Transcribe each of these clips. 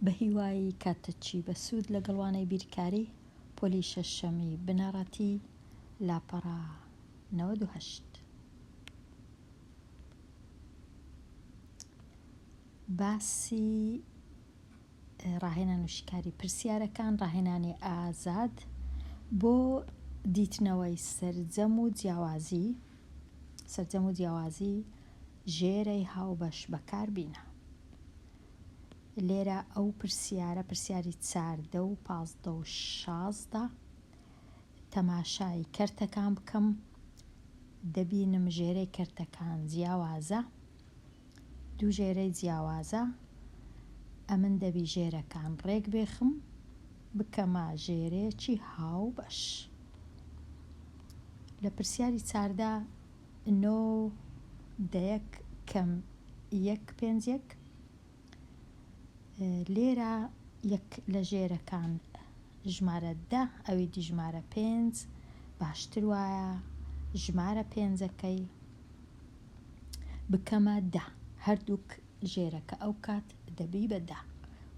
بەهیوای کاتتچی بەسوود لەگەڵ وانەی بیرکاری پۆلی شەشەمی بنەڕەتی لاپەڕە نەوەد و هەشت. باسی ڕاهێنان و شیکاری پرسیارەکان ڕاهێنانی ئازاد بۆ دیتنەوەی سەرجەم و جیاوازی سەرجەم و جیاوازی ژێرەی هاوبەش بەکار بینە. لێرە ئەو پرسیارە پرسیاری چاردە و پازدە و شازدە تەماشای کەرتەکان بکەم دەبینم ژێرەی کەرتەکان جیاوازە دوو ژێرەی جیاوازە ئەمن دەبی ژێرەکان ڕێک بێخم بکەمە ژێرێکی هاوبەش لە پرسیاری چاردە نۆ دەیەک کەم یەک پێنج یەک لێرە یەک لە ژێرەکان ژمارە دە ئەوی دی ژمارە پێنج باشتر وایە ژمارە پێنجەکەی بکەمە دە هەردووک ژێرەکە ئەو کات دەبی بەدا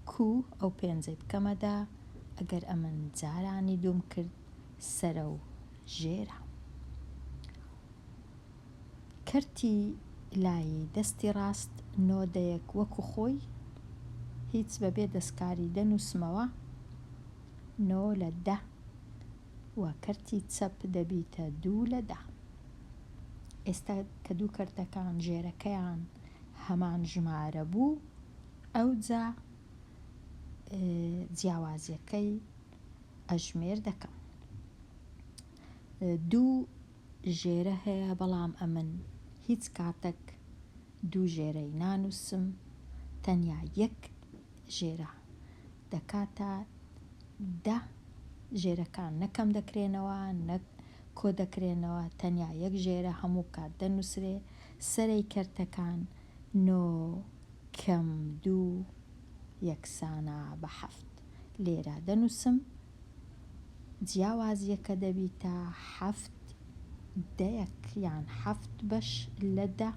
کو ئەو پێنجەی بکەمەدا ئەگەر ئەمن جارانی دوم کرد سەرە و ژێرە کەرتی لایی دەستی ڕاست نۆ دەیەک وەکو خۆی هیچ بەبێ دەستکاری دەنووسمەوە نۆ لە دە و کەرتی چەپ دەبیتە دوو لە دە ئێستا کە دوو کەرتەکان ژێرەکەیان هەمان ژمارە بوو ئەوجا جیاوازیەکەی ئەژمێر دەکەم دوو ژێرە هەیە بەڵام ئەمن هیچ کاتەک دوو ژێرەی نانووسم تەنیا یەک ژێرە دەکاتە دە ژێرەکان نە کەم دەکرێنەوە نە کۆ دەکرێنەوە تەنیا یەک ژێرە هەموو کات دەنووسرێ سەرەی کەرتەکان نۆ کەم دوو یەکسانە بە حەفت لێرە دەنووسم. جیاوازیەکە دەبیتە حەفت دەیەک یان حەفت بەش لە دە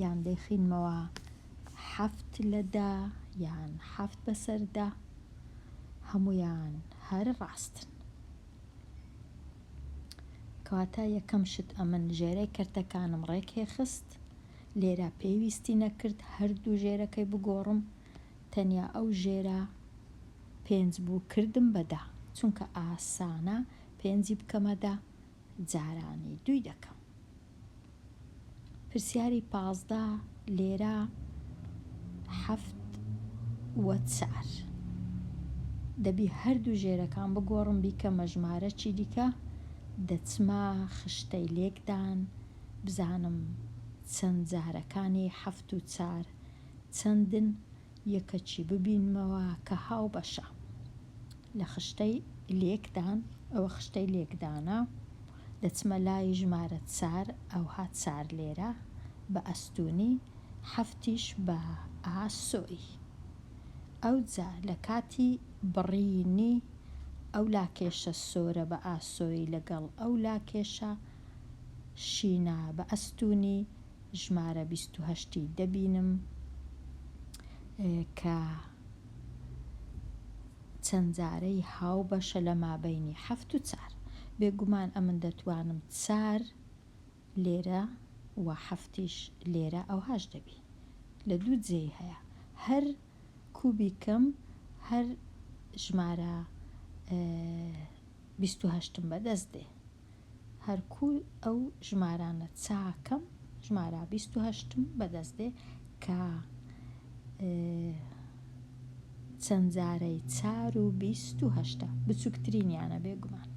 یان دەیخینمەوە حەفت لە دە یان حەفت بەسەر دە هەموویان هەر ڕاستن کەواتە یەکەم شت ئەمن ژێرەی کەرتەکانم ڕێکێ خست لێرە پێویستی نەکرد هەردوو ژێرەکەی بگۆڕم تەنیا ئەو ژێرە پێنج بوو کردم بە دە چونکە ئاسانە پێنجی بکەمە دە جارانی دووی دەکەم پرسیاری پازدە لێرە حەفت و چار دەبی هەردوو ژێرەکان بگۆڕم بیکەمە ژمارەکی دیکە دەچمە خشتەی لێکدان بزانم چەند جارەکانی حەفت و چار چەندن یەکەکی ببینمەوە کە هاوبەشە لە خشتەی لێکدان، ئەوە خشتەی لێکدانە، دەچمە لای ژمارە چار، ئەوها چار لێرە بە ئەستوونی، حەفتیش بە ئا سۆی. ئەوجا لە کاتی بڕینی ئەو لاکێشە سۆرە بە ئاسۆی لەگەڵ ئەو لاکێشە شینە بە ئەستوونی، ژمارە بیست و هەشت ی دەبینم کە چەند جارەی هاوبەشە لە مابەینی حەفت و چار بێگومان ئەمن دەتوانم چار لێرە و حەفتیش لێرە ئەوهاش دەبی لە دوو جێی هەیە هەر کوبیکم هەر ژمارە بیست و هەشتم بەدەست دێ. هەر کوور ئەو ژمارانە چاکەم ژمارا بیست و هەشتم بەدەست دێ کە چەند جارەی چار و بیست و هەشتا بچووکترینیانە بێگومان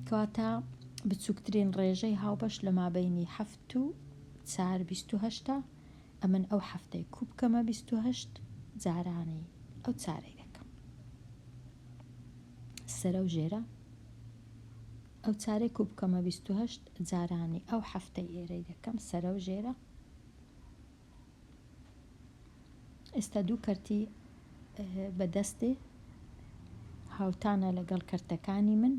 کەواتە بچووکترین ڕێژەی هاوبەش لە مابینی هەفت و چار بیست و هەشتا ئەمن ئەو حەفتەی کو بکەمە بیست و هەشت جارانی ئەو چارەی دەکەم سەرە و ژێرە ئەو چارەی کو بکەمە بیست و هەشت جارانی ئەو حەفتەی ئێرەی دەکەم سەرە و ژێرە ئێستا دوو کەرتی بەدەستێ هاوتانە لەگەڵ کەرتەکانی من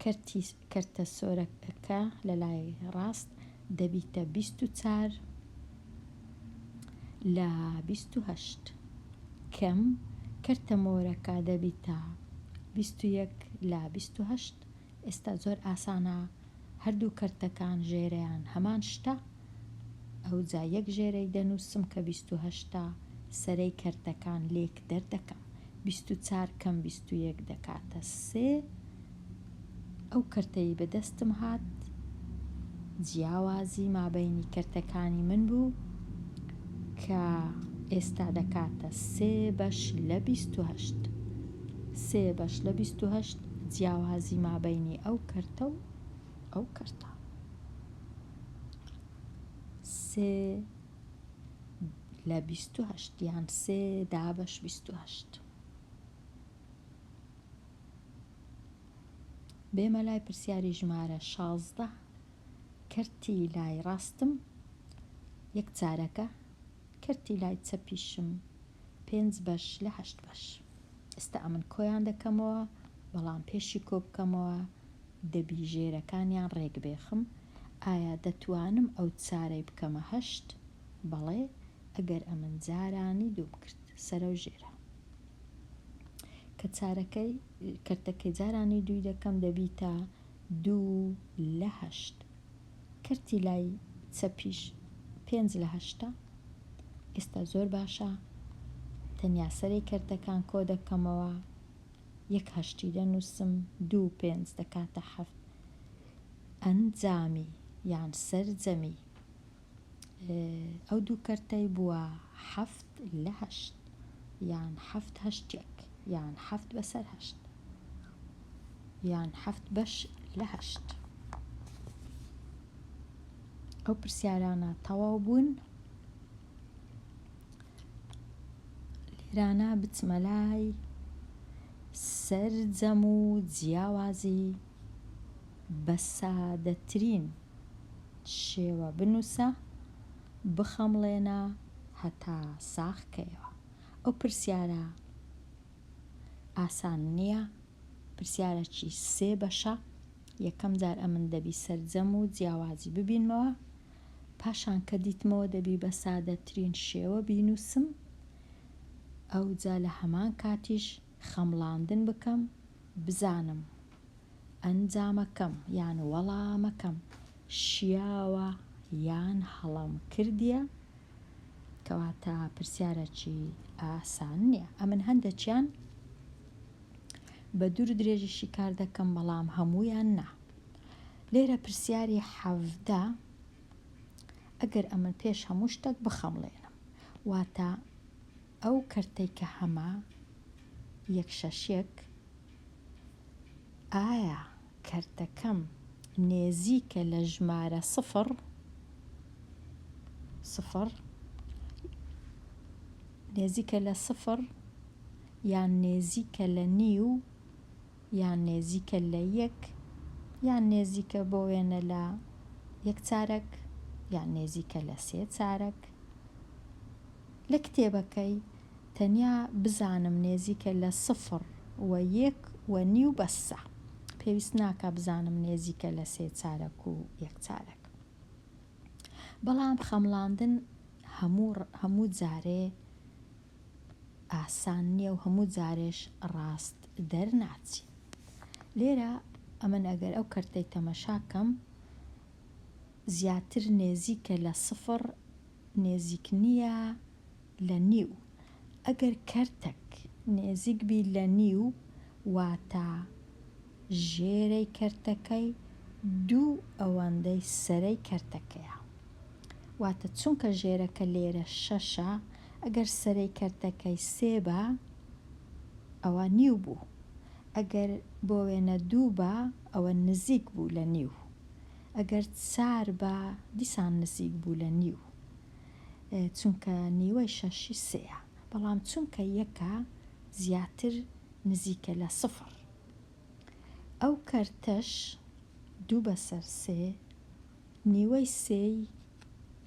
کەرتی کەرتە سۆرەکەکە لە لای ڕاست دەبیتە بیست و چار لە بیست و هەشت کەم کەرتە مۆرەکە دەبیتە بیست و یەک لە بیست و هەشت ئێستا زۆر ئاسانە هەردوو کەرتەکان ژێرەیان هەمان شتە ئەوجا یەک ژێرەی دەنووسم کە بیست و هەشتا سەرەی کەرتەکان لێک دەردەکەم، بیست و چار کەم بیست و یەک دەکاتە سێ، ئەو کەرتەی بەدەستم هات جیاوازی مابەینی کەرتەکانی من بوو کە ئێستا دەکاتە سێ بەش لە بیست و هەشت، سێ بەش لە بیست و هەشت جیاوازی مابەینی ئەو کەرتە و ئەو کەرتە. سێ لە بیست و هەشت یان سێ دابەش بیست و هەشت. بێمە لای پرسیاری ژمارە شازدە کەرتی لای ڕاستم یەک چارەکە کەرتی لای چەپیشم پێنج بەش لە هەشت بەش. ئێستا ئەمن کۆیان دەکەمەوە، بەڵام پێشی کۆ بکەمەوە دەبی ژێرەکانیان ڕێک بێخم. ئایا دەتوانم ئەو چارەی بکەمە هەشت؟ بەڵێ ئەگەر ئەمن جارانی دوو بکرد سەرە و ژێرە. کە چارەکەی کەرتەکەی جارانی دووی دەکەم دەبیتە دوو لە هەشت. کەرتی لای چەپیش پێنج لە هەشتە ئێستا زۆر باشە تەنیا سەرەی کەرتەکان کۆ دەکەمەوە یەک هەشتی دەنووسم دوو پێنج دەکاتە حەفت ئەنجامی یان سەرجەمی ئەو دوو کەرتەی بووە حەفت لە هەشت یان حەفت هەشتێک یان حەفت بەسەر هەشت یان حەفت بەش لە هەشت ئەو پرسیارانە تەواو بوون لێرانە بچمە لای سەرجەم و جیاوازی بە سادەترین شێوە بنووسە، بخەمڵێنە هەتا ساغ کەیەوە. ئەو پرسیارە ئاسان نییە، پرسیارەکی سێ بەشە، یەکەم جار ئەمن دەبی سەرجەم و جیاوازی ببینمەوە، پاشان کە دیتمەوە دەبی بە سادەترین شێوە بینووسم، ئەوجا لە هەمان کاتیش، خەمڵاندن بکەم بزانم ئەنجامەکەم یان وەڵامەکەم شیاوە یان هەڵەم کردیە؟ کەواتە پرسیارەکی ئاسان نیە. ئەمن هەندەکیان بە دوور و درێژی شیکار دەکەم بەڵام هەموویان نا. لێرە پرسیاری حەڤدە ئەگەر ئەمن پێش هەموو شتەک بخەمڵێنم واتە ئەو کەرتەی کە هەمە یەک شەش یەک ئایا کەرتەکەم نێزیکە لە ژمارە سفڕ سفڕ نێزیکە لە سفڕ یان نێزیکە لە نیو یان نێزیکە لە یەک یان نێزیکە بۆ وێنە لە یەک چارەک یان نێزیکە لە سێ چارەک لە کتێبەکەی تەنیا بزانم نێزیکە لە سفڕ و یەک و نیو بەسە پێویست ناکا بزانم نێزیکە لە سێ چارەک و یەک چارەک بەڵام خەمڵاندن هەموو هەموو جارێ ئاسان نییە و هەموو جارێش ڕاست دەرناچی لێرە ئەمن ئەگەر ئەو کەرتەی تەمەشاکەم زیاتر نێزیکە لە سفڕ نێزیک نیە لە نیو ئەگەر کەرتەک نێزیک بی لە نیو واتە ژێرەی کەرتەکەی دوو ئەوەندەی سەرەی کەرتەکەیە واتە چونکە ژێرەکە لێرە شەشە ئەگەر سەرەی کەرتەکەی سێ بە ئەوە نیو بوو ئەگەر بۆ وێنە دوو بە ئەوە نزیک بوو لە نیو ئەگەر چار با دیسان نزیک بوو لە نیو چونکە نیوەی شەشی سێیە بەڵام چونکە یەکە زیاتر نزیکە لە سفر ئەو کەرتەش دوو بەسەر سێ نیوەی سێی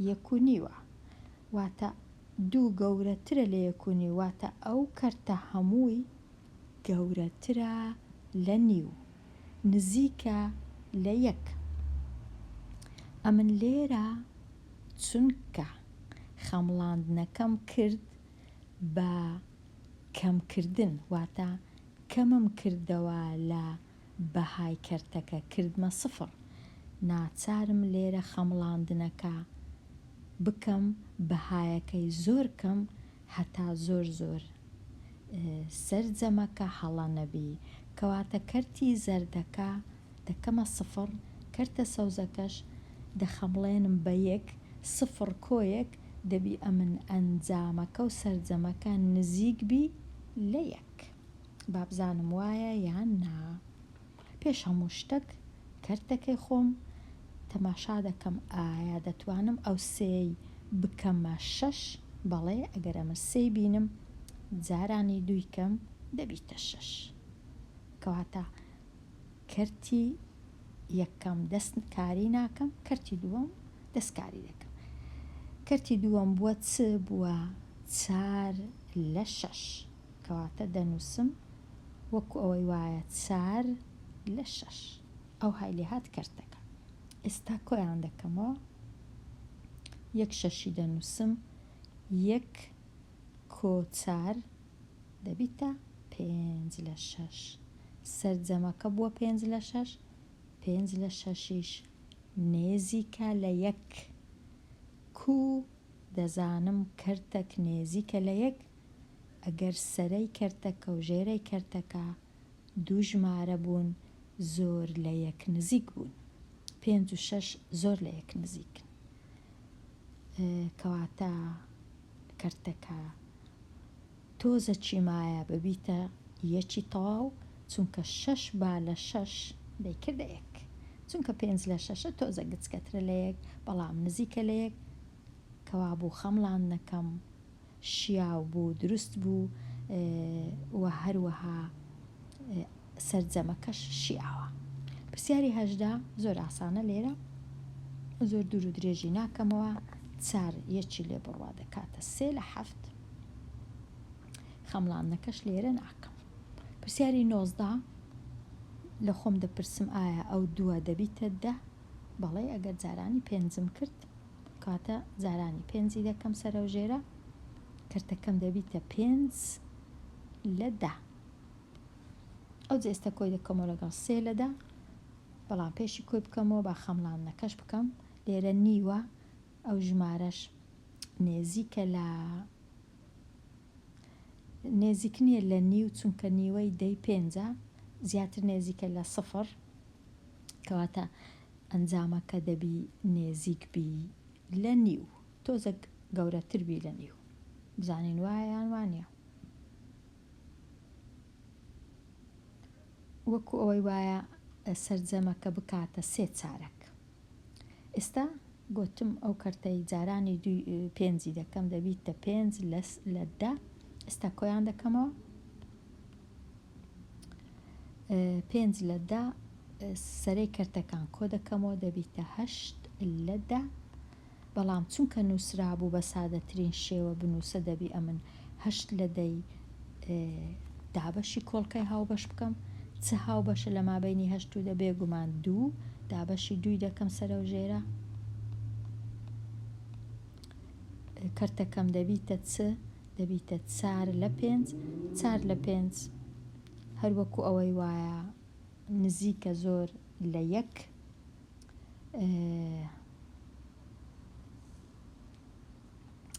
یەک و نیوە واتە دوو گەورەترە لە یەک و نیو واتە ئەو کەرتە هەمووی گەورەترە لە نیو نزیکە لە یەک. ئەمن لێرە چونکە خەمڵاندنەکەم کرد بە کەمکردن، واتە کەمم کردەوە لە بەهای کەرتەکە، کردمە سفڕ، ناچارم لێرە خەمڵاندنەکە بکەم بەهایەکەی زۆر کەم هەتا زۆر زۆر سەرجەمەکە هەڵە نەبی کەواتە کەرتی زەردەکە دەکەمە سفڕ کەرتە سەوزەکەش دەخەمڵێنم بە یەک سفڕ کۆیەک دەبی ئەمن ئەنجامەکە و سەرجەمەکە نزیک بی لە یەک بابزانم وایە یان نا. پێش هەموو شتەک کەرتەکەی خۆم تەماشا دەکەم ئایا دەتوانم ئەو سێەی بکەمە شەش بەڵێ ئەگەر ئەمە سێی بینم جارانی دووی کەم دەبیتە شەش کەواتە کەرتی یەکەم دەست کاری ناکەم کەرتی دووەم دەست کاری دەکەم کەرتی دووەم بووە چ بووە چار لە شەش. کەواتە دەنووسم وەکو ئەوەی وایە چار لە شەش. ئەوهای لێهات کەرتەکە. ئێستا کۆیان دەکەمەوە. یەک شەشی دەنووسم یەک کۆ چار دەبیتە پێنج لە شەش. سەرجەمەکە بووە پێنج لە شەش. پێنج لە شەشیش نێزیکە لە یەک. کوو دەزانم کەرتەک نێزیکە لە یەک؟ ئەگەر سەرەی کەرتەکە و ژێرەی کەرتەکە دوو ژمارە بوون زۆر لە یەک نزیک بوون پێنج و شەش زۆر لە یەک نزیکن کەواتە کەرتەکە تۆزە چی مایە ببیتە یەکی تەواو چونکە شەش با لە شەش دەیکردە یەک چونکە پێنج لە شەشە تۆزە گچکەترە لە یەک بەڵام نزیکە لە یەک کەوابوو خەمڵاندنەکەم شیاو بوو دروست بوو و هەروەها سەرجەمەکەش شیاوە. پرسیاری هەژدە زۆر ئاسانە لێرە زۆر دوور و درێژی ناکەمەوە چار یەکی لێ بڕوا دەکاتە سێ لە حەفت خەمڵاندنەکەش لێرە ناکەم پرسیاری نۆزدە لە خۆم دەپرسم ئایا ئەو دووە دەبیتە دە بەڵێ ئەگەر جارانی پێنجم کرد کاتە جارانی پێنجی دەکەم سەرەو ژێرە کەرتەکەم دەبیتە پێنج لە دە ئەو جێستە کۆی دەکەمەوە لەگەڵ سێ لە دە بەڵام پێشی کۆی بکەمەوە با خەمڵاندنەکەش بکەم لێرە نیوە ئەو ژمارەش نێزیکە لە نێزیک نییە لە نیو چونکە نیوەی دەی پێنجە زیاتر نێزیکە لە سفر کەواتە ئەنجامەکە دەبی نێزیک بی لە نیو تۆزەک گەورەتر بی لە نیو بزانین وایە یان وانیە وەکو ئەوەی وایە سەرجەمەکە بکاتە سێ چارەک ئێستا گۆتم ئەو کەرتەی جارانی دوی پێنجی دەکەم دەبیتە پێنج لە دە ئێستا کۆیان دەکەمەوە پێنج لە دە سەرەی کەرتەکان کۆ دەکەمەوە دەبیتە هەشت لە دە بەڵام چونکە نووسرابوو بە سادەترین شێوە بنووسە دەبی ئەمن هەشت لە دەی دابەشی کۆڵکەی هاوبەش بکەم چ هاوبەشە لە مابینی هەشت و دە بێگومان دوو دابەشی دووی دەکەم سەرە و ژێرە کەرتەکەم دەبیتە چ دەبیتە چار لە پێنج چار لە پێنج هەروەکو ئەوەی وایە نزیکە زۆر لە یەک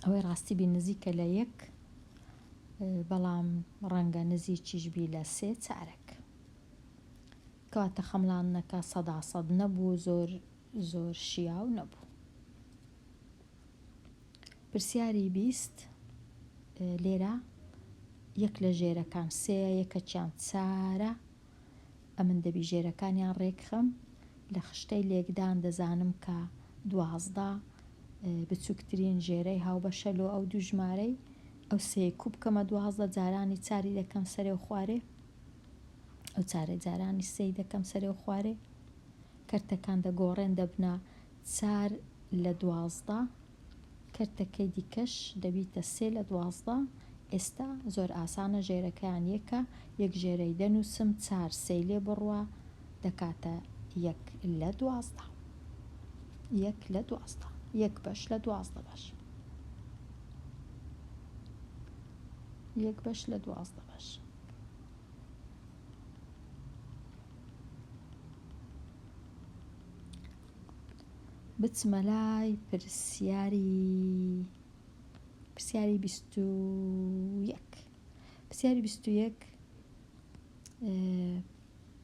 ئەوەی ڕاستی بی نزیکە لە یەک بەڵام ڕەنگە نزیکیش بی لە سێ چارەک کەواتە خەمڵانەکە سەدا سەد نەبوو زۆر زۆر شیاو نەبوو پرسیاری بیست، لێرە یەک لە ژێرەکان سێیە یەکەکیان چارە ئەمن دەبی ژێرەکانیان ڕێکخەم لە خشتەی لێکدان دەزانم کە دوازدە بچووکترین ژێرەی هاوبەشە لۆ ئەو دوو ژمارەی ئەو سێ کوب کەمە دوازدە جارانی چاری دەکەم سەرێ و خوارێ ئەو چارە جارانی سێی دەکەم سەرێ و خوارێ کەرتەکان دەگۆڕێن دەبنا چار لە دوازدە، کەرتەکەی دیکەش دەبیتە سێ لە دوازدە، ئێستا زۆر ئاسانە ژێرەکەیان یەکە، یەک ژێرەی دەنووسم چار سێی لێ بڕە دەکاتە یەک لە دوازدە. یەک لە دوازدە. یەک بەش لە دوازدە بەش. یەک بەش لە دوازدە بەش. بچمە لای پرسیاری پرسیاری بیست و یەک پرسیاری بیست و یەک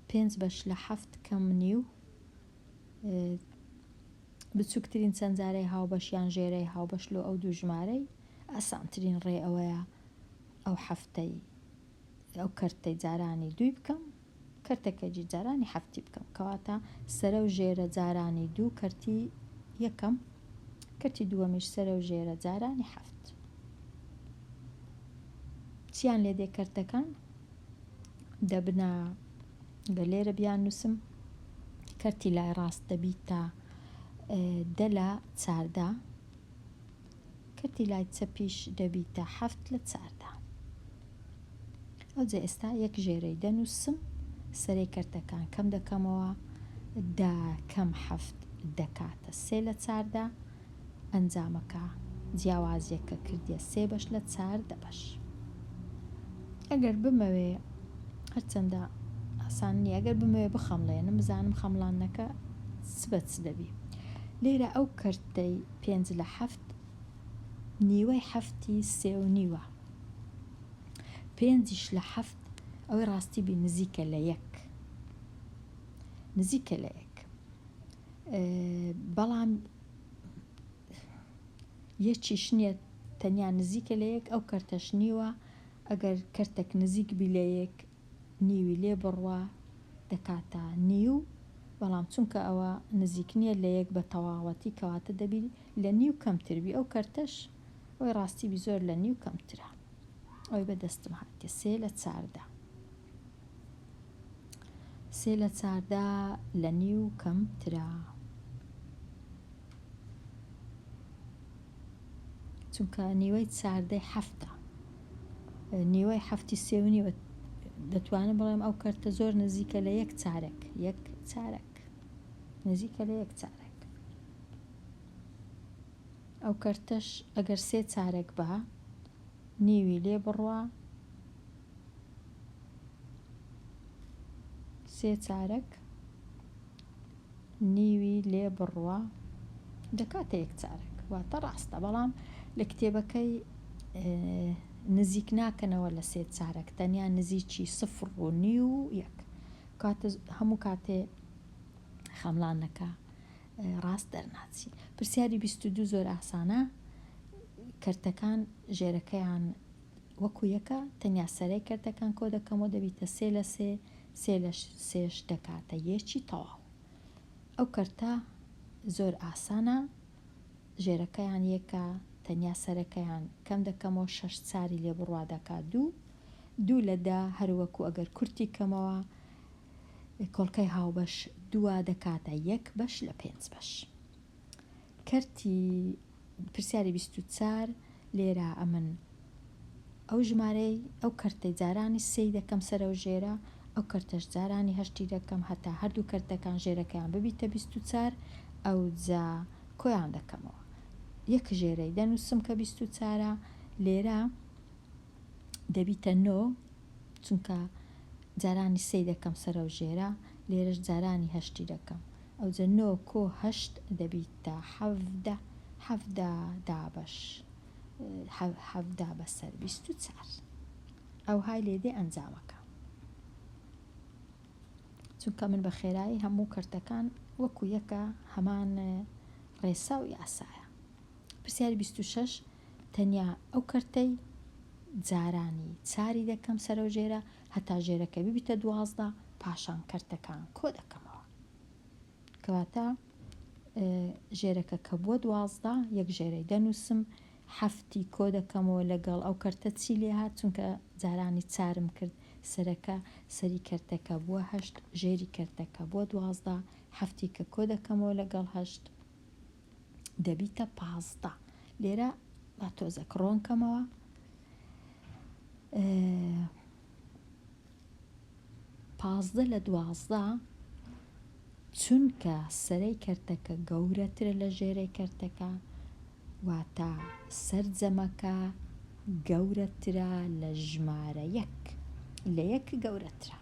پێنج بەش لە حەفت کەم نی و بچووکترین چەندجارەی هاوبەشیان ژێرەی هاوبەش لۆ ئەو دوو ژمارەی ئاسانترین ڕێ ئەوەیە ئەو حەفتەی ئەو کەرتەی جارانی دووی بکەم کەرتەکەجی جارانی حەفتی بکەم کەواتە سەرەو ژێرە جارانی دوو کەرتی یەکەم کەرتی دووەمیش سەرەو ژێرە جارانی حەفت چیان لێ دێ کەرتەکان دەبنە گە لێرە بیان نووسم کەرتی لای ڕاست دەبیت تا دە لە چاردە کەرتی لای چەپیش دەبیتە حەفت لە چاردا. ئەوجە ئێستا یەک ژێرەی دەنووسم، سەرەی کەرتەکان کەم دەکەمەوە، دە کەم حەفت دەکاتە سێ لە چاردا، ئەنجامەکە جیاوازییەکە کردیە سێ بەش لە چار دە بەش. ئەگەر بمەوێ، هەرچەندە ئاسان نییە، ئەگەر بمەوێ بخەمڵێنم، بزانم خەمڵاندنەکە چ بە چ دەبی. لێرە ئەو کەرتەی پێنج لە حەفت نیوەی حەفتی سێ و نیوە. پێنجیش لە حەفت ئەوەی ڕاستی بی نزیکە لە یەک. نزیکە لە یەک. بەڵام یەکیش نییە تەنیا نزیکە لە یەک ئەو کەرتەش نیوە ئەگەر کەرتەک نزیک بی لە یەک نیوی لێ بڕوا دەکاتە نیو بەڵام چونکە ئەوە نزیک نیە لە یەک بە تەواوەتی کەواتە دەبی لە نیو کەمتر بی ئەو کەرتەش ئەوی ڕاستی بی زۆر لە نیو کەمترە ئەوی بە دەستم هاتیە سێ لە چاردە سێ لە چاردە لە نیو کەمترە چونکە نیوەی چاردەی حەفتە نیوەی حەفتی سێ و نیوە دەتوانم بڵێم ئەو کەرتە زۆر نزیکە لە یەک چارەک یەک چارەک نزیکە لە یەک چارەک ئەو کەرتەش ئەگەر سێ چارەک بە نیوی لێ بڕوا سێ چارەک نیوی لێ بڕوا دەکاتە یەک چارەک واتە ڕاستە بەڵام لە کتێبەکەی نزیک ناکەنەوە لە سێ چارەک تەنیا نزیکی سفر و نیو و یەک کاتە هەموو کاتێ خەملانەکە ڕاست دەرناچی پرسیاری 22 زۆر ئاسانە کەرتەکان ژێرەکەیان وەکو یەکە تەنیا سەرەی کەرتەکان کۆ دەکەمەوە دەبیتە سێ لە سێ سێ لە سێش دەکاتە یەکی تەواو ئەو کەرتە زۆر ئاسانە ژێرەکەیان یەکە تەنیا سەرەکەیان کەم دەکەمەوە شەش چاری لێ بڕوا دەکا دوو دوو لە دە هەروەکو ئەگەر کورتی کەمەوە کۆڵکەی هاوبەش دوا دەکاتە یەک بەش لە پێنج بەش کەرتی پرسیاری بیست و چار لێرە ئەمن ئەو ژمارەی ئەو کەرتەی جارانی سێی دەکەم سەرەو ژێرە ئەو کەرتەش جارانی هەشتی دەکەم هەتا هەردوو کەرتەکان ژێرەکەیان ببیتە بیست و چار ئەوجا کۆیان دەکەمەوە یەک ژێرەی دەنوسم کە بیست و چارە لێرە دەبیتە نۆ چونکە جارانی سێی دەکەم سەرەو ژێرە لێرەش جارانی هەشتی دەکەم ئەوجە نۆ کۆ هەشت دەبیتە حەڤدە حەڤدە دابەش حەڤدە بەسەر بیست و چار ئەو های لێدێ ئەنجامەکە چونکە من بە خێرایی هەموو کەرتەکان وەکو یەکە هەمان ڕێسا و یاسایە پرسیاری بیست و شەش، تەنیا ئەو کەرتەی جارانی چاری دەکەم سەرەو ژێرە هەتا ژێرەکە ببیتە دوازدە پاشان کەرتەکان کۆ دەکەمەوە کەواتە ژێرەکە کە بووە دوازدە یەک ژێرەی دەنووسم هەفتی کۆ دەکەمەوە لەگەڵ ئەو کەرتە چی لێ هات چونکە جارانی چارم کرد سەرەکە سەری کەرتەکە بووە هەشت ژێری کەرتەکە بۆ دوازدە هەفتی کە کۆ دەکەمەوە لەگەڵ هەشت دەبیتە پازدە لێرە با تۆزە کڕۆن کەمەوە پازدە لە دوازدە چونکە سەرەی کەرتەکە گەورەترە لە ژێرەی کەرتەکە واتە سەرجەمەکە گەورەترە لە ژمارە یەک لە یەک گەورەترە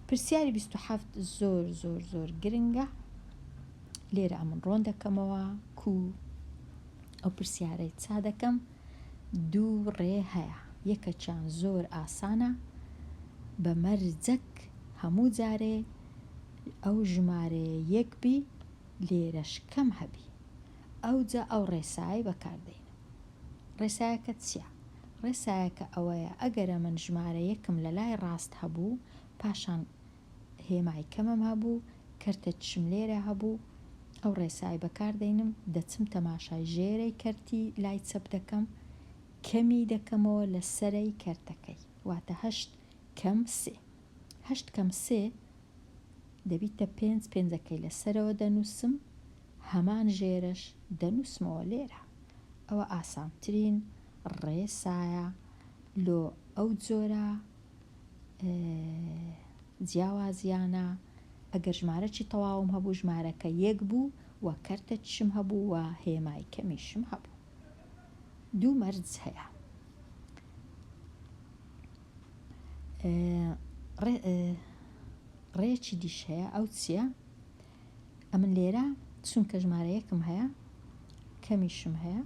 پرسیاری بیست و حەفت زۆر زۆر زۆر گرنگە لێرە ئەمن ڕۆن دەکەمەوە کو ئەو پرسیارەی چا دەکەم دوو ڕێ هەیە یەکەچیان زۆر ئاسانە بە مەرجەک هەموو جارێ ئەو ژمارەیە یەک بی لێرەش کەم هەبی ئەوجا ئەو ڕێسای بەکاردێنم ڕێسایەکە چییە؟ ڕێسایەکە ئەوەیە، ئەگەرە من ژمارە یەکم لە لای ڕاست هەبوو، پاشان هێمای کەمم هەبوو، کەرتە چشم لێرە هەبوو، ئەو ڕێسای بەکار دەینم، دەچم تەماشای ژێرەی کەرتی لای چەپ دەکەم، کەمی دەکەمەوە لە سەرەی کەرتەکەی، واتە هەشت کەم سێ. هەشت کەم سێ دەبیتە پێنج پێنجەکەی لە سەرەوە دەنووسم هەمان ژێرەش دەنووسمەوە لێرە ئەوە ئاسانترین ڕێ سایە لۆ ئەو جۆرە جیاوازیانە ئەگەر ژمارەی تەواوم هەبوو ژمارەکە یەک بوو و کەرتە چشم هەبوو و هێمای کەمیشم هەبوو دوو مەرج هەیە ڕێیەکی دیش هەیە ئەو چییە؟ ئەمن لێرە چونکە ژمارەیەکم هەیە کەمیشم هەیە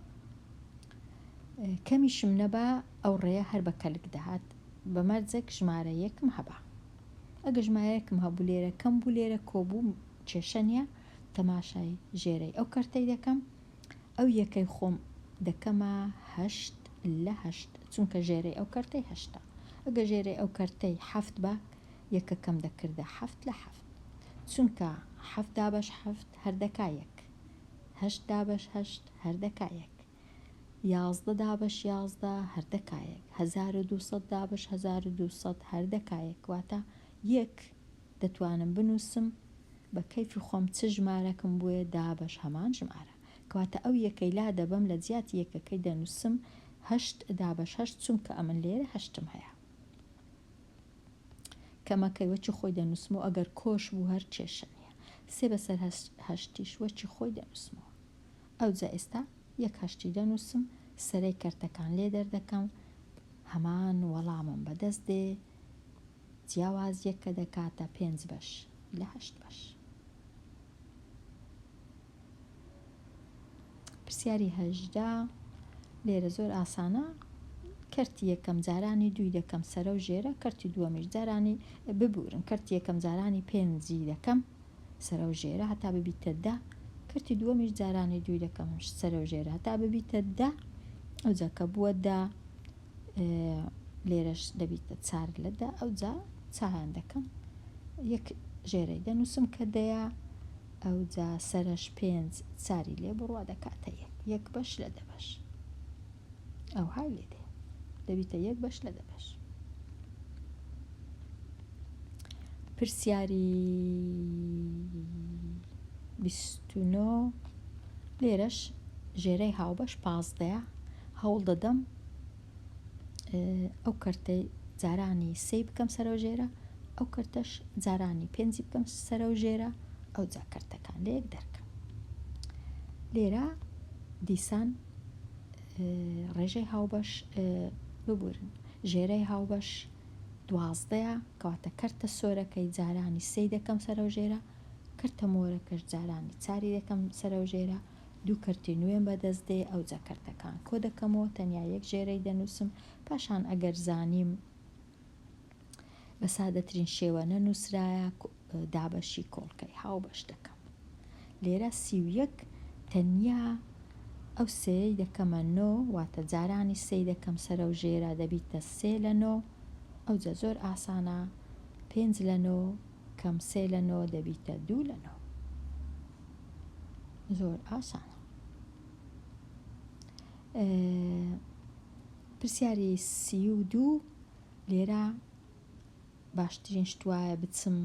کەمیشم نەبا ئەو ڕێە هەر بە کەلک دەهات بە مەرجێک ژمارە یەکم هەبا ئەگە ژمارەیەکم هەبوو لێرە کەم بوو لێرە کۆبووم کێشە نیە تەماشای ژێرەی ئەو کەرتەی دەکەم ئەو یەکەی خۆم دەکەمە هەشت لە هەشت چونکە ژێرەی ئەو کەرتەی هەشتە ئەگە ژێرەی ئەو کەرتەی حەفت بە یەکەکەم دەکردە حەفت لە حەفت چونکە حەفت دابەش حەفت هەر دەکا یەک هەشت دابەش هەشت هەر دەکا یەک یازدە دابەش یازدە هەر دەکا یەک هەزار و دوو سەد دابەش هەزار و دوو سەد هەر دەکا یەک واتە یەک دەتوانم بنوسم بە کەیفی خۆم چ ژمارەکم بۆیە دابەش هەمان ژمارە کەواتە ئەو یەکەی لادەبەم لە جیاتی یەکەکەی دەنوسم هەشت دابەش هەشت چونکە ئەمن لێرە هەشتم هەیە کەمەکەی وەکی خۆی دەنوسمەوە ئەگەر کۆش بوو هەر کێشە نیە سێ بەسەر هەشتیش وەکی خۆی دەنوسمەوە ئەوجا ئێستا یەک هەشتی دەنوسم سەرەی کەرتەکان لێ دەردەکەم هەمان وەڵامم بەدەست دێ جیاوازیەک کە دەکاتە پێنج بەش لە هەشت بەش. پرسیاری هەژدە لێرە زۆر ئاسانە کەرتی یەکەم جارانی دوی دەکەم سەرە و ژێرە کەرتی دووەمیش جارانی ببورن کەرتی یەکەم جارانی پێنجی دەکەم سەرە و ژێرە هەتا ببیتە دە کەرتی دووەمیش جارانی دوی دەکەم سەرە و ژێرە هەتا ببیتە دە ئەوجا کە بووە دە لێرەش دەبیتە چار لەدا ئەوجا چایان دەکەم یەک ژێرەی دەنووسم کە دەیە ئەوجا سەرش پێنج چاری لێ بڕوا دەکاتە یەک یەک بەش لە دەبەش ئەو های لێ دێ دەبیتە یەک بەش لە دەبەش پرسیاری بیستنۆ لێرەش ژێرەی هاوبەش پازدەیە هەوڵ دەدەم ئەو کەرتەی جارانی سێی بکەم سەرە و ژێرە ئەو کەرتەش جارانی پێنجی بکەم سەرە و ژێرە ئەو جا کەرتەکان لە یەک دەرکەم لێرە دیسان ڕێژەی هاوبەش ببورن ژێرەی هاوبەش دوازدەیە کەواتە کەرتە سۆرەکەی جارانی سی دەکەم سەرە و ژێرە کەرتە مۆرەکەش جارانی چاری دەکەم سەرە و ژێرە دوو کەرتی نوێم بەدەست دێ ئەوجا کەرتەکان کۆدەکەمەوە تەنیا یەک ژێرەی دەنووسم پاشان ئەگەر زانیم بەسادەترین شێوە نەنووسرایە دابەشی کۆڵکەی هاوبەش دەکەم لێرە سی و یەک تەنیا ئەو سێی دەکەمە نۆ واتە جارانی سێی دەکەم سەرە و ژێرا دەبیتە سێ لە نۆ ئەوجا زۆر ئاسانە پێنج لە نۆ کەم سێ لە نۆ دەبیتە دوو لە نۆ زۆر ئاسانە پرسیاری سی و دوو لێرە باشترین شتواە بچم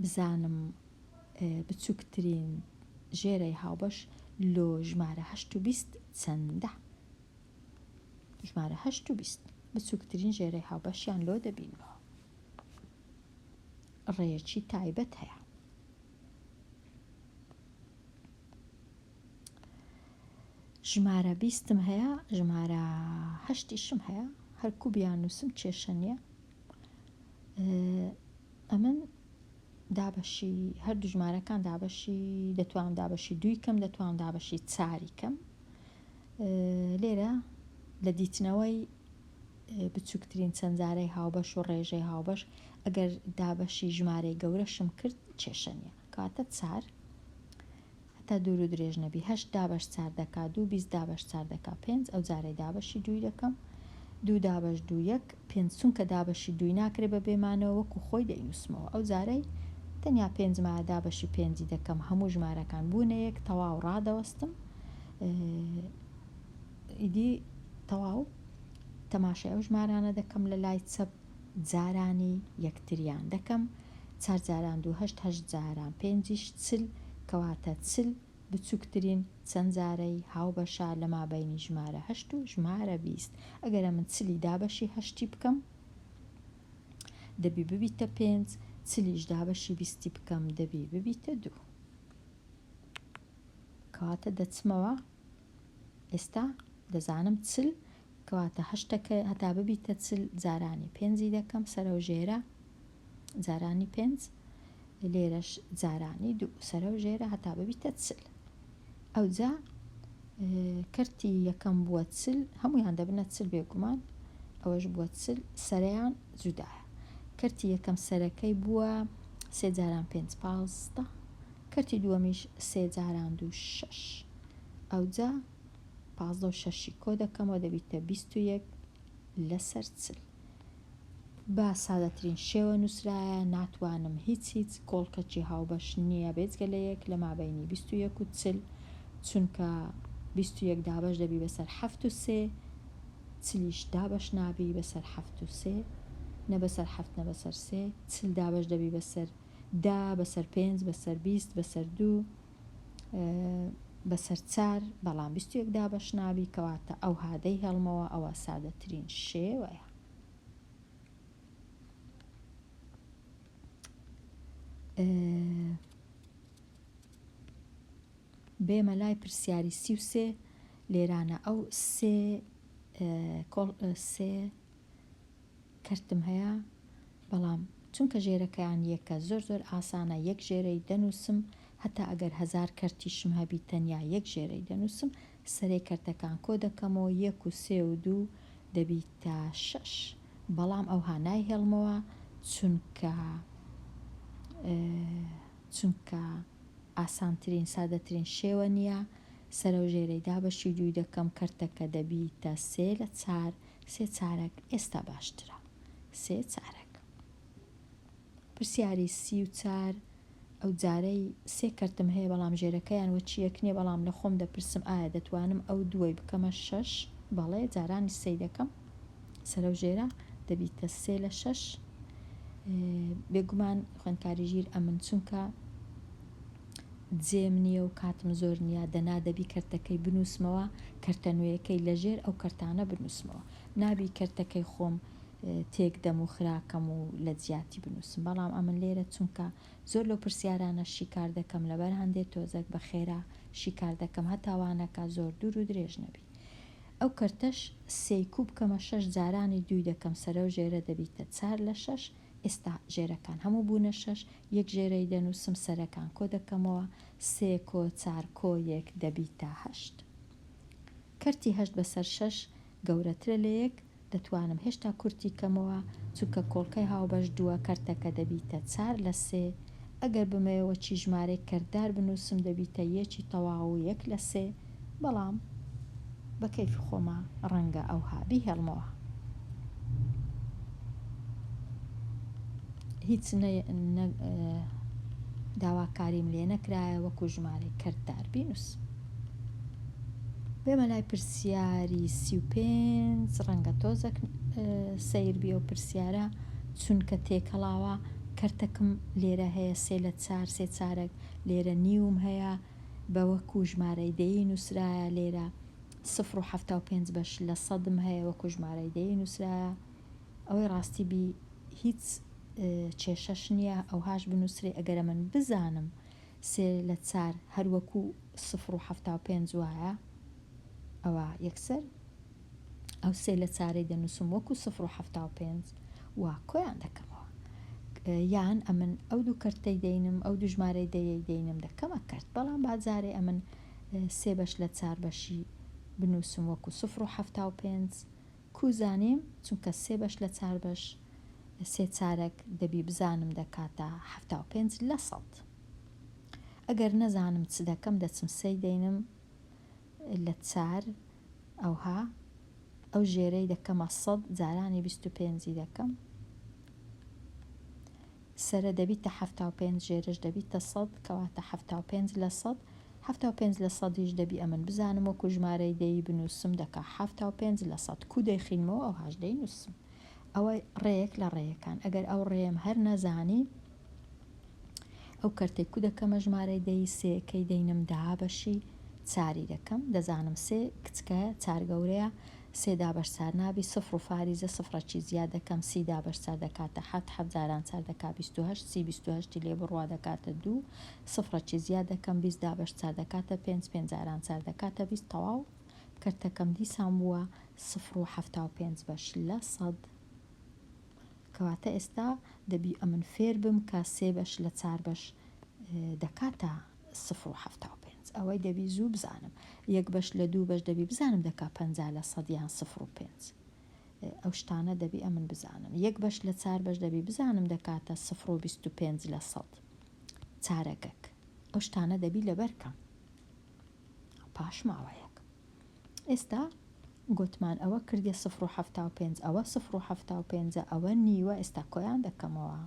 بزانم بچووکترین ژێرەی هاوبەش لۆ ژمارە هەشت و بیست چەندە ژمارە هەشت و بیست بچووکترین ژێرەی هاوبەشیان لۆ دەبینەوە ڕێیەکی تایبەت هەیە. ژمارە بیستم هەیە ژمارە هەشتیشم هەیە هەرکو بیان نووسم کێشە نییە ئەمن دابەشی هەر دوژمارەکان دابەشی دەتوانم دابەشی دووی کەم دەتوانم دابەشی چاری کەم لێرە لە دیتنەوەی بچوکترین چەندزارەی هاوبەش و ڕێژەی هاوبەش ئەگەر دابەشی ژمارەی گەورەشم کرد کێشە نیە کەواتە چار هەتا دوور و درێژ نەبی هەشت دابەش چار دەکا دوو بیست دابەش چار دەکا پێنج ئەو جارەی دابەشی دووی دەکەم دوو دابەش دوو یەک پێنج چونکە دابەشی دووی ناکرێ بە بێمانەوە وەکو خۆی دەینوسمەوە ئەو جارەی تەنیا پێنج مایە دابەشی پێنجی دەکەم هەموو ژمارەکان بوونە یەک تەواو ڕادەوەستم ئیدی تەواو تەماشای ئەو ژمارانە دەکەم لە لای چەپ جارانی یەکتریان دەکەم چار جاران دوو هەشت هەشت جاران پێنجیش چل کەواتە چل بچوکترین چەند جارەی هاوبەشە لە مابەینی ژمارە هەشت و ژمارە بیست ئەگەر ئەمن چلی دابەشی هەشتی بکەم دەبی ببیتە پێنج چلیش دابەشی بیستی بکەم دەبی ببیتە دوو کەواتە دەچمەوە ئێستا دەزانم چل کەواتە هەشتەکە هەتا ببیتە چل جارانی پێنجی دەکەم سەرەو ژێرە جارانی پێنج لێرەش جارانی دوو سەرەو ژێرە هەتا ببیتە چل ئەوجا کەرتی یەکەم بووە چل هەمویان دەبنە چل بێگومان ئەوەش بووە چل سەریان جودایە کەرتی یەکەم سەرەکەی بووە سێ جاران پێنج پازدە کەرتی دووەمیش سێ جاران دوو شەش. ئەوجا پازدە و شەشی کۆ دەکەمەوە دەبیتە بیست و یەک لەسەر چل. بە سادەترین شێوە نووسرایە، ناتوانم هیچ هیچ کۆڵکەکی هاوبەش نییە بێجگە لە یەک لە مابەینی بیست و یەک و چل، چونکە بیست و یەک دابەش دەبی بەسەر حەفت و سێ، چلیش دابەش نابی بەسەر حەفت و سێ، نە بەسەر حەفت نە بەسەر سێ، چل دابەش دەبی بەسەر دە بەسەر پێنج بەسەر بیست بەسەر دوو بەسەر چار بەڵام بیست و یەک دابەش نابی کەواتە ئەو هادەی هێڵمەوە ئەوە سادەترین شێوەیە بێمە لای پرسیاری سی و سێ لێرانە ئەو سێ سێ کەرتم هەیە بەڵام چونکە ژێرەکەیان یەکە زۆر زۆر ئاسانە یەک ژێرەی دەنووسم هەتا ئەگەر هەزار کەرتیشم هەبی تەنیا یەک ژێرەی دەنووسم سەرەی کەرتەکان کۆ دەکەمەوە یەک و سێ و دوو دەبیتە شەش بەڵام ئەوها نایهێڵمەوە چونکە چونکە ئاسانترین سادەترین شێوە نییە سەرەو ژێرەی دابەشی دووی دەکەم کەرتەکە دەبیتە سێ لە چار سێ چارەک ئێستا باشترە سێ چارەک. پرسیاری سی و چار ئەو جارەی سێ کەرتم هەیە بەڵام ژێرەکەیان وەچیەک نیە بەڵام لە خۆم دەپرسم ئایا دەتوانم ئەو دووەی بکەمە شەش بەڵێ جارانیش سێی دەکەم سەرەو ژێرە دەبیتە سێ لە شەش بێگومان خوێندکاری ژیر ئەمن چونکە جێم نییە و کاتم زۆر نییە، دەنا دەبی کەرتەکەی بنووسمەوە، کەرتە نوێیەکەی لە ژێر ئەو کەرتانە بنووسمەوە. نابی کەرتەکەی خۆم تێک دەم و خراکەم و لە جیاتی بنووسم. بەڵام ئەمن لێرە چونکە زۆر لەو پرسیارانە شیکار دەکەم لەبەر هەندێ تۆزەک بە خێرا شیکار دەکەم هەتا وانەکە زۆر دوور و درێژ نەبی. ئەو کەرتەش سێی کوو بکەمە شەش جارانی دووی دەکەم سەرەو ژێرە دەبیتە چار لە شەش، ئێستا ژێرەکان هەموو بوونە شەش، یەک ژێرەی دەنووسم، سەرەکان کۆ دەکەمەوە، سێ کۆ چار کۆ یەک دەبیتە هەشت. کەرتی هەشت بەسەر شەش گەورەترە لە یەک، دەتوانم هێشتا کورتی کەمەوە، چونکە کۆڵکەی هاوبەش دووە، کەرتەکە دەبیتە چار لە سێ. ئەگەر بمەوێ وەکی ژمارەیەک کەرتدار بنووسم دەبیتە یەکی تەواو و یەک لە سێ. بەڵام بە کەیفی خۆما ڕەنگە ئەوها بیهێڵمەوە. هیچ داواکاریم لێ نەکرایە وەکو ژمارەی کەرتدار بینوس. بێمە لای پرسیاری سی و پێنج ڕەنگە تۆزەک سیر بیە و پرسیارە چونکە تێکەڵاوە کەرتەکم لێرە هەیە سێ لە چار سێ چارەک لێرە نیوم هەیە بە وەکوو ژمارەی دەیی نووسرایە، لێرە سفر و حەفتا و پێنج بەش لە سەدم هەیە وەکوو ژمارەی دەیی نووسرایە. ئەوەی ڕاستی بی هیچ کێشەش نییە ئەوهاش بنووسرێ، ئەگەرە من بزانم سێ لە چار هەر وەکوو سفر و حەفتا و پێنج وایە ئەوا یەکسەر. ئەو سێ لە چارەی دەنووسم وەکو سفر و حەفتا و پێنج و کۆیان دەکەمەوە. یان ئەمن ئەو دوو کەرتەی دەینم، ئەو دوو ژمارەی دەیەی دەینم دەکەمە کەرت. بەڵام با جارێ ئەمن سێ بەش لە چار بەشی بنووسم وەکو سفر و حەفتا و پێنج کوو زانیم، چونکە سێ بەش لە چار بەش، سێ چارەک، دەبی بزانم دەکاتە حەفتا و پێنج لە سەد. ئەگەر نەزانم چ دەکەم دەچم سێی دەینم، لە چار ئەوها ئەو ژێرەی دەکەمە سەد جارانی بیست و پێنجی دەکەم سەرە دەبیتە حەفتا و پێنج ژێرەش دەبیتە سەد کەواتە حەفتا و پێنج لە سەد حەفتا و پێنج لە سەدیش دەبی ئەمن بزانم وەکو ژمارەی دەی بنووسم دەکا حەفتا و پێنج لە سەد کو دەیخینمەوە ئەوهاش دەینووسم ئەوە ڕێیەک لە ڕێیەکان ئەگەر ئەو ڕێیەم هەر نەزانی ئەو کەرتەی کو دەکەمە ژمارەی دەی سێ کەی دەینم دابەشی چاری دەکەم دەزانم سێ کچکەیە چار گەورەیە سێ دابەش چار نابی سفر و فاریزە سفرەکی زیاد دەکەم سی دابەش چار دەکاتە حەفت حەفت جاران چار دەکا بیست و هەشت سی بیست و هەشتی لێ بڕوا دەکاتە دوو سفرەکی زیاد دەکەم بیست دابەش چار دەکاتە پێنج پێنج جاران چار دەکاتە بیست تەواو کەرتەکەم دیسان بووە سفر و حەفتا و پێنج بەش لە سەد کەواتە ئێستا دەبی ئەمن فێر بم کە سێ بەش لە چار بەش دەکاتە سفر و حەفتا و پێنج ئەوەی دەبی زوو بزانم یەک بەش لە دوو بەش دەبی بزانم دەکا پەنجا لە سەد یان سفر و پێنج ئەو شتانە دەبی ئەمن بزانم یەک بەش لە چار بەش دەبی بزانم دەکاتە سفر و بیست و پێنج لە سەد چارەگەک ئەو شتانە دەبی لەبەر کەم. پاش ماوەیەک. ئێستا گۆتمان ئەوە کردیە سفر و حەفتا و پێنج ئەوە سفر و حەفتا و پێنجە ئەوە نیوە ئێستا کۆیان دەکەمەوە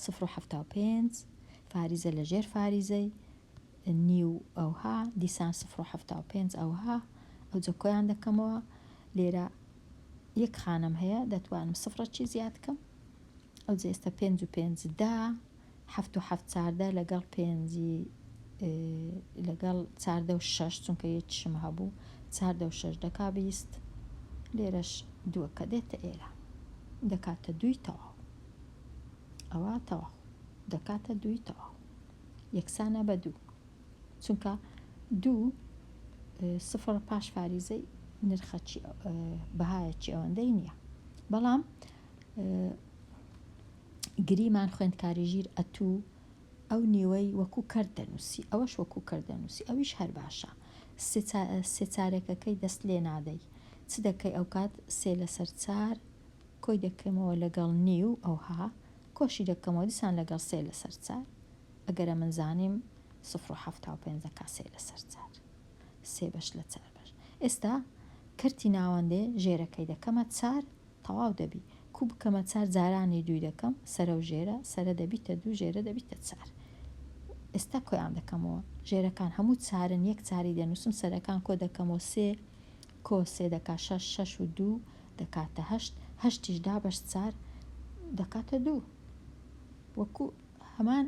سفر و حەفتا و پێنج فاریزە لە ژێر فاریزەی نیو ئەوها دیسان سفر و حەفتا و پێنج ئەوها ئەو جە کۆیان دەکەمەوە لێرە یەک خانم هەیە دەتوانم سفرە چی زیاد کەم ئەو جێستە پێنج و پێنج دا حەفت و حەفت چاردە لەگەڵ پێنجی لەگەڵ چاردە و شەش چونکە یەکیشم هەبوو چاردە و شەش دەکا بیست لێرەش دووەکە دێتە ئێرە دەکاتە دووی تەواو ئەوە تەواو دەکاتە دووی تەواو یەکسانە بە دوو چونکە دوو سفر پاش فاریزەی نرخەچی بەهایەکی ئەوەندەی نییە بەڵام گریمان خوێندکاری ژیر ئەتوو ئەو نیوەی وەکو کەر دەنووسی ئەوەش وەکو کەر دەنووسی ئەویش هەر باشە سێ سێ چارەکەکەی دەست لێ نادەی چ دەکەی ئەوکات سێ لەسەر چار کۆی دەکەمەوە لەگەڵ نیو ئەوها کۆشی دەکەمەوە دیسان لەگەڵ سێ لەسەر چار ئەگەرە من زانیم سفر و حەفتا و پێنج دەکا سێ لەسەر چار سێ بەش لە چار بەش ئێستا کەرتی ناوەندێ ژێرەکەی دەکەمە چار تەواو دەبی. کو بکەمە چار جارانی دووی دەکەم سەرە و ژێرە، سەرە دەبیتە دوو ژێرە دەبیتە چار. ئێستا کۆیان دەکەمەوە. ژێرەکان هەموو چارن یەک چاری دەنووسم سەرەکان کۆ دەکەمەوە سێ کۆ سێ دەکا شەش شەش و دوو دەکاتە هەشت هەشتیش دابەش چار دەکاتە دوو وەکو هەمان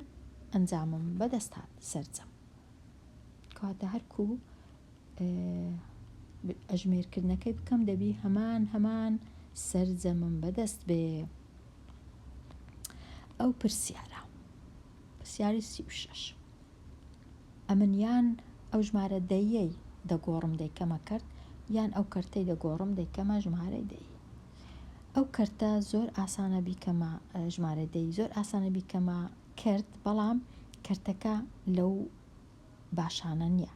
ئەنجامم بەدەست هات سەرجەم کەواتە هەرکوو ئەژمێر کردنەکەی بکەم دەبی هەمان هەمان سەرجەمم بەدەست بێ ئەو پرسیارە پرسیاری سی و شش ئەمن یان ئەو ژمارە دەیەی دەگۆڕم دەیکەمە کرد یان ئەو کەرتەی دەگۆڕم دەیکەمە ژمارەی دەی ئەو کەرتە زۆر ئاسانە بیکەمە ژمارە دەی زۆر ئاسانە بیکەمە کرد بەڵام کەرتەکە لەو باشانە نیە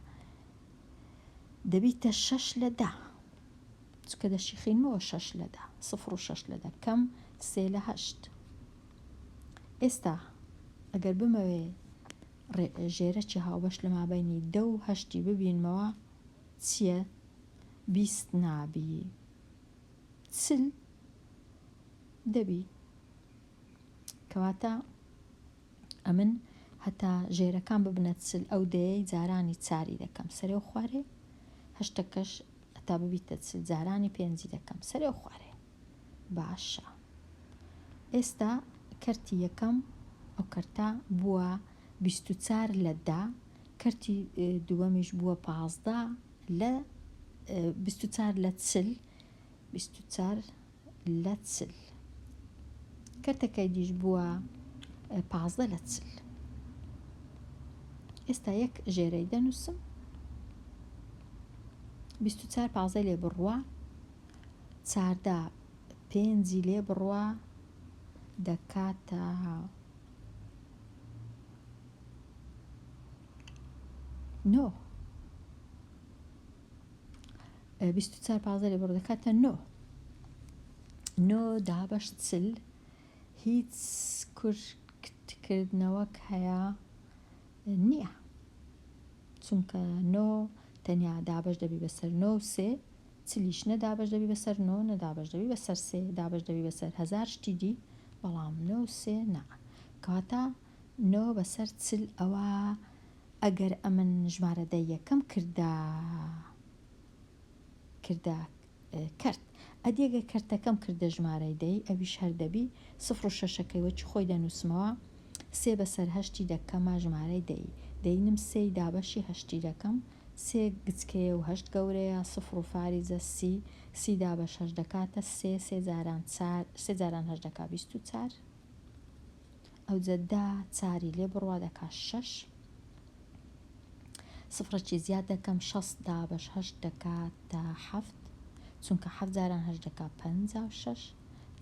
دەبیتە شەش لە دە چکە دەشیخینمەوە شەش لە دە سفر و شەش لە دەکەم سێ لە هەشت ئێستا ئەگەر بمەوێ ژێرەکی هاوبەش لە مابینی دە و هەشتی ببینمەوە چییە بیست نابی سل دەبی کەواتە ئەمن هەتا ژێرەکان ببنە چل ئەو دەیەی جارانی چاری دەکەم سەرێ و خوارێ هەشتەکەش هەتا ببیتە چل جارانی پێنجی دەکەم سەرێ و خوارێ باشە ئێستا کەرتی یەکەم ئەو کەرتا بووە بیست و چار لە دا کەرتی دووەمیش بووە پازدە لە بیست و چار لە چل بیست و چار لە چل. کەرتەکەی دیش بووە پازدە لە چل. ئێستا یەک ژێرەی دەنووسم بیست و چار پازدەی لێ بڕوە چاردا پێنجی لێ بڕوە دەکاتە نۆ بیست و چار پازدە لێ بڕۆ دەکاتە نۆ نۆ دابەش چل هیچ کورتکردنەوەک هەیە نییە چونکە نۆ تەنیا دابش دەبی بەسەر نۆ سێ چلیش نەدابش دەبی بەسەر نۆ نەدابش دەبی بەسەر سێ دابش دەبی بەسەر هزار شتی دی بەڵام نۆ سێ نا کەواتە نۆ بەسەر چل ئەوا ئەگەر ئەمن ژمارە دە یەکەم کردە کردە کەرت ئەدی گەر کەرتەکەم کردە ژمارەی دەی ئەویش هەر دەبی سفر و شەشەکەی وەکی خۆی دەنووسمەوە سێ بەسەر هەشتی دەکەمە ژمارەی دەی دەینم سێی دابەشی هەشتی دەکەم سێ گچکەیە و هەشت گەورەیە سفر و فاریزە سی سی دابە شەش دەکاتە سێ سێ جاران چار سێ جاران هەشت دەکا بیست و چار ئەوجە دە چاری لێ بڕوا دەکا شەش سفرەکی زیاد دەکەم شەست دابەش هەشت دەکاتە حەفت چونکە حەفت جاران هەشت دەکا پەنجا و شەش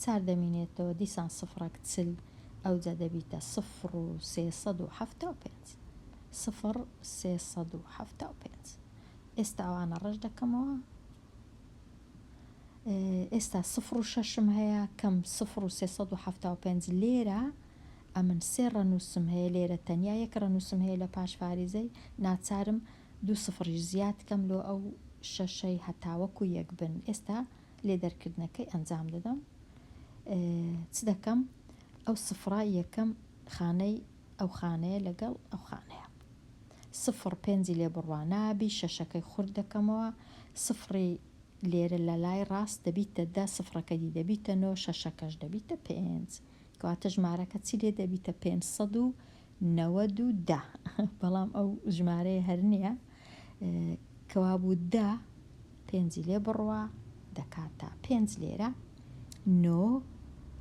چار دەمینێتەوە دیسان سفرەک چل ئەوجە دەبیتە سفر و سێ سەد و حەفتا و پێنج سفر سێ سەد و حەفتا و پێنج ئێستا ئەوانە ڕەش دەکەمەوە ئێستا سفر و شەشم هەیە کەم سفر و سێ سەد و حەفتا و پێنج لێرە ئەمن سێ ڕەنووسم هەیە لێرە تەنیا یەک ڕەنووسم هەیە لە پاش فاریزەی ناچارم دوو سفریش زیاد کەم لۆ ئەو شەشەی هەتاوەکو یەک بن ئێستا لێ دەرکردنەکەی ئەنجام دەدەم چ دەکەم ئەو سفرە یەکەم خانەی ئەو خانەیە لەگەڵ ئەو خانەیە سفڕ پێنجی لێ بڕوا نابی شەشەکەی خورد دەکەمەوە سفڕی لێرە لەلای ڕاست دەبیتە دە سفڕەکەی دی دەبیتە نۆ شەشەکەش دەبیتە پێنج کەواتە ژمارەکە چی لێ دەبیتە پێنج سەد و نەوەد و دە بەڵام ئەو ژمارەیە هەر نییە کەوابوو دە پێنجی لێ بڕوا دەکاتە پێنج لێرە نۆ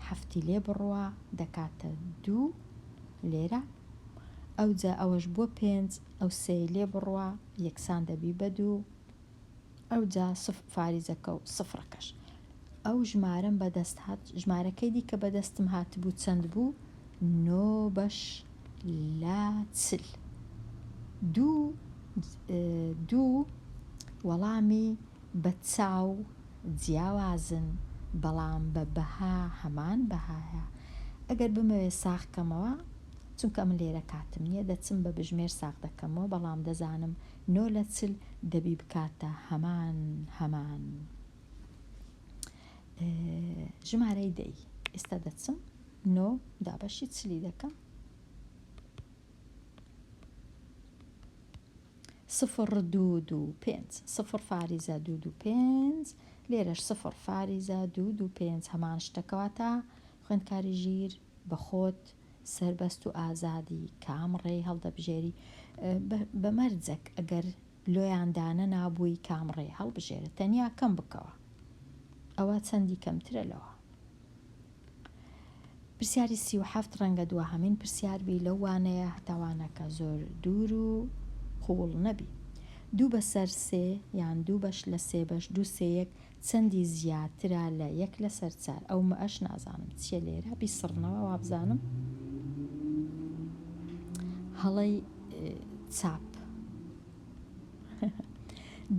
حەفتی لێ بڕوا دەکاتە دوو لێرە ئەوجا ئەوەش بووە پێنج ئەو سێی لێ بڕوا یەکسان دەبی بە دوو ئەوجا سف فاریزەکە و سفرەکەش ئەو ژمارەم بەدەست هات ژمارەکەی دیکە بەدەستم هاتبوو چەند بوو نۆ بەش لە چل دوو دوو وەڵامی بە چاو جیاوازن بەڵام بە بەها هەمان بەهایە ئەگەر بمەوێ ساغ کەمەوە چونکە من لێرە کاتم نیە دەچم بە بژمێر ساغ دەکەمەوە بەڵام دەزانم نۆ لە چل دەبی بکاتە هەمان هەمان ژمارەی دەی ئێستا دەچم نۆ دابەشی چلی دەکەم. سفر دوو دوو پێنج سفر فاریزە دوو دوو پێنج لێرەش سفر فاریزە دوو دوو پێنج هەمان شتەکەواتە خوێندکاری ژیر بەخۆت سربەست و ئازادی کام ڕێی هەڵدەبژێری بە مەرجەک ئەگەر لۆیاندانە نابووی کام ڕێ هەڵبژێرە تەنیا کەم بکەوە ئەوە چەندی کەمترە لەوە پرسیاری سی و حەفت ڕەنگە دواهەمین پرسیار بی لەو وانەیە هەتا وانەکە زۆر دوور و قووڵ نەبی. دوو بەسەر سێ یان دوو بەش لە سێ بەش دوو سێ یەک چەندی زیاترە لە یەک لەسەر چار؟ ئەو مەش نازانم چییە لێرە بیسڕنەوە وابزانم هەڵەی چاپ.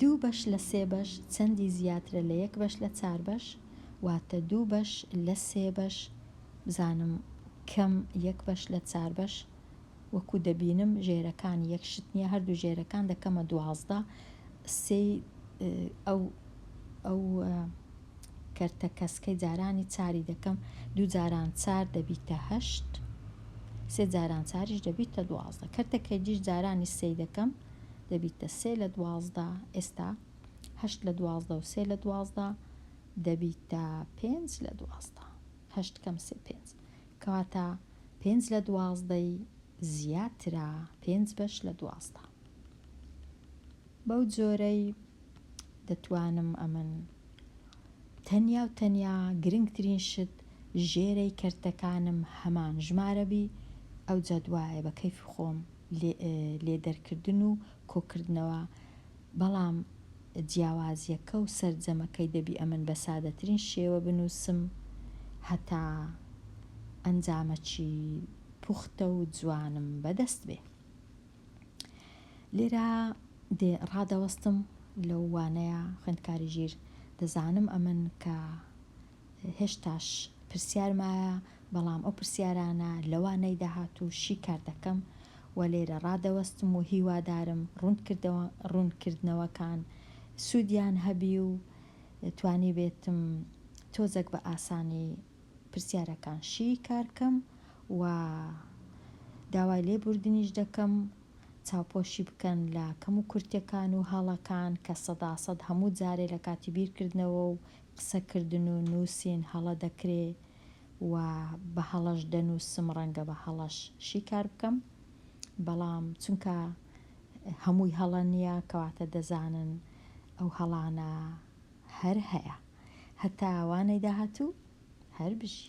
دوو بەش لە سێ بەش چەندی زیاترە لە یەک بەش لە چار بەش؟ واتە دوو بەش لە سێ بەش بزانم کەم یەک بەش لە چار بەش وەکو دەبینم ژێرەکان یەک شت نییە هەردوو ژێرەکان دەکەمە دوازدە سێی ئەو ئەو کەرتە کەسکەی جارانی چاری دەکەم دوو جاران چار دەبیتە هەشت سێ جاران چاریش دەبیتە دوازدە کەرتە کەجیش جارانی سێی دەکەم دەبیتە سێ لە دوازدە ئێستا هەشت لە دوازدە و سێ لە دوازدە دەبیتە پێنج لە دوازدە هەشت کەم سێ پێنج کەواتە پێنج لە دوازدەی زیاترە پێنج بەش لە دوازدە بەو جۆرەی دەتوانم ئەمن تەنیا و تەنیا گرنگترین شت ژێرەی کەرتەکانم هەمان ژمارەبی ئەو جەدوایە بە کەیفی خۆم لێ دەرکردن و کۆکردنەوە بەڵام جیاوازیەکە و سەرجەمەکەی دەبی ئەمن بە سادەترین شێوە بنووسم هەتا ئەنجامەکی پوختە و جوانم بەدەست بێ. لێرە دێ ڕادەوەستم لەو وانەیە خوێندکاری ژیر دەزانم ئەمن کە هێشتاش پرسیار مایە، بەڵام ئەو پرسیارانە لەوانەی داهاتوو شیکار دەکەم و لێرە ڕادەوەستم و هیوادارم ڕوونکردنەوەکان سوودیان هەبی و توانیبێتم تۆزەک بە ئاسانی پرسیارەکان شی کار کەم و داوای لێبوردنیش دەکەم چاوپۆشی بکەن لە کەم و کورتیەکان و هەڵەکان کە سەدا سەد هەموو جارێ لە کاتی بیرکردنەوە و قسەکردن و نووسین هەڵە دەکرێ و بە هەڵەش دەنووسم، ڕەنگە بە هەڵەش شیکار بکەم، بەڵام چونکە هەمووی هەڵە نییە، کەواتە دەزانن ئەو هەڵانە هەر هەیە. هەتا وانەی داهاتوو، هەر بژی.